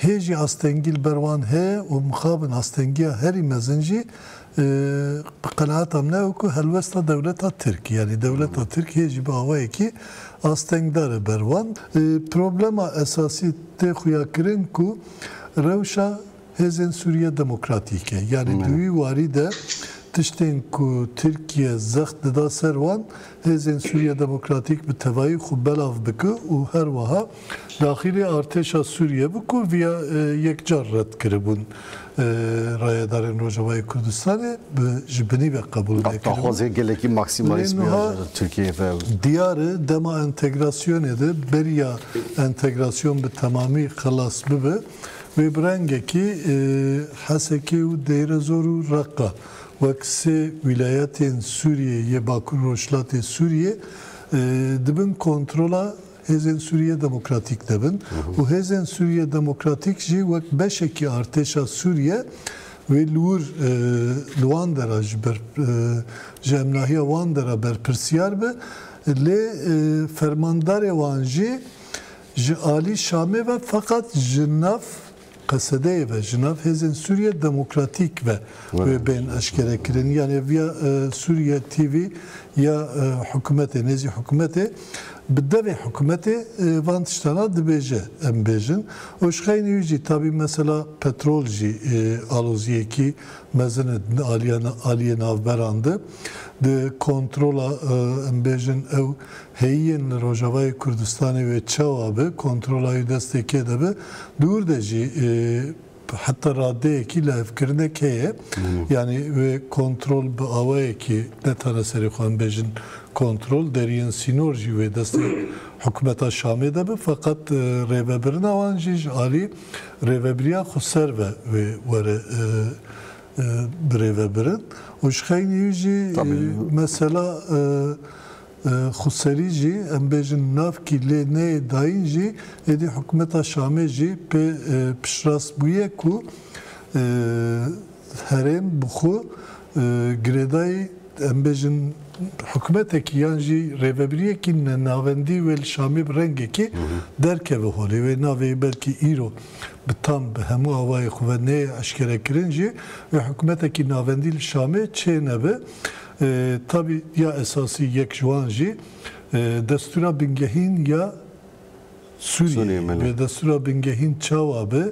Hê jî astengî li ber wan heye û mixabin astengiya herî mezin jî bi qenaeta min e wekû helwesta dewleta Tirk e. Yanî dewleta Tirk hê jî bi awayekî astengdar e ber wan. Problema esasî tê xuya kirin ku rewşa hêzên Sûriye Demokratîk e. Yanî di wî warî de tiştên ku Tirkiye zext dida ser wan, hêzên Sûriye Demokratîk bi tevayî xwe belav bike û her wiha, Daxilî artêşa Sûriyê bû ku vîya yekcar red kiribûn. Rayedarên Rojavayê Kurdistanê bi ji binî ve qebûl nekiribûn. Daxwazê gelekî maksîmalîst bûya ji Tirkiyeyê ve. Lê niha diyar e dema entegrasyonê de beriya entegrasyon bi temamî xilas bibe wê bi rengekî Hesekê û Deyrezor û Reqqa wek sê wîlayetên Sûriyê yê Bakur-Rojhilatê Sûriyê di bin kontrola Hêzên Sûriyê demokratîk dibin û Hêzên Sûriyê Demokratîk jî wek beşekî artêşa Sûriyê wê li wir li wan dera ji ber ji hemnahiya wan dera berpirsiyar be lê fermandarê wan jî ji alî Şamê ve feqet ji nav Qesedeyê ve ji nav Hêzên Sûriye Demokratîk ve wê bên eşkerekirin. Yanê via Sûriye TV ya hikûmetê nêzî hikûmetê bi devê hikûmetê van tiştana dibêje em bêjin û ji xeynî wî jî tabî mesela petrol jî aloziyekî mezin e di aliyê navberan de di kontrola em bêjin ew Hêyîyên li Rojavayê Kurdistanê wê çawa bi kontrola wî destê kê de bi, di wir de jî heta radeyekî lihevkirinek heye. Yanî wê kontrol bi awayekî ne tane serê xwe em bêjin kontrol, deriyên sînor jî wê destê hikûmeta Şamê de bi. Feqet rêvebirina wan jî ji alî rêvebiriya xweser ve wê were birêvebirin û ji xeynî wî jî mesela Xweserî jî em bêjin navkî lê neyê dayîn jî êdî hikûmeta Şamê jî pê piştrast bûye ku herêm bi xwe girêdayî em bêjin hikûmetekî yan jî rêvebiriyekî ne navendî wê li Şamê bi rengekî derkeve holê. Wê navê belkî îro bi tam bi hemû awayê xwe ve neyê eşkerekirin jî wê hikûmetekî navendî li Şamê çênebe. Tabî ya esasî yek ji wan jî destûra bingehîn ya Sûriyeyê ye. Vê destûra bingehîn çawa be,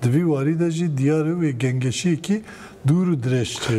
di vî warî de jî diyar e wê gengeşiyekî dûr û dirêj çêbe.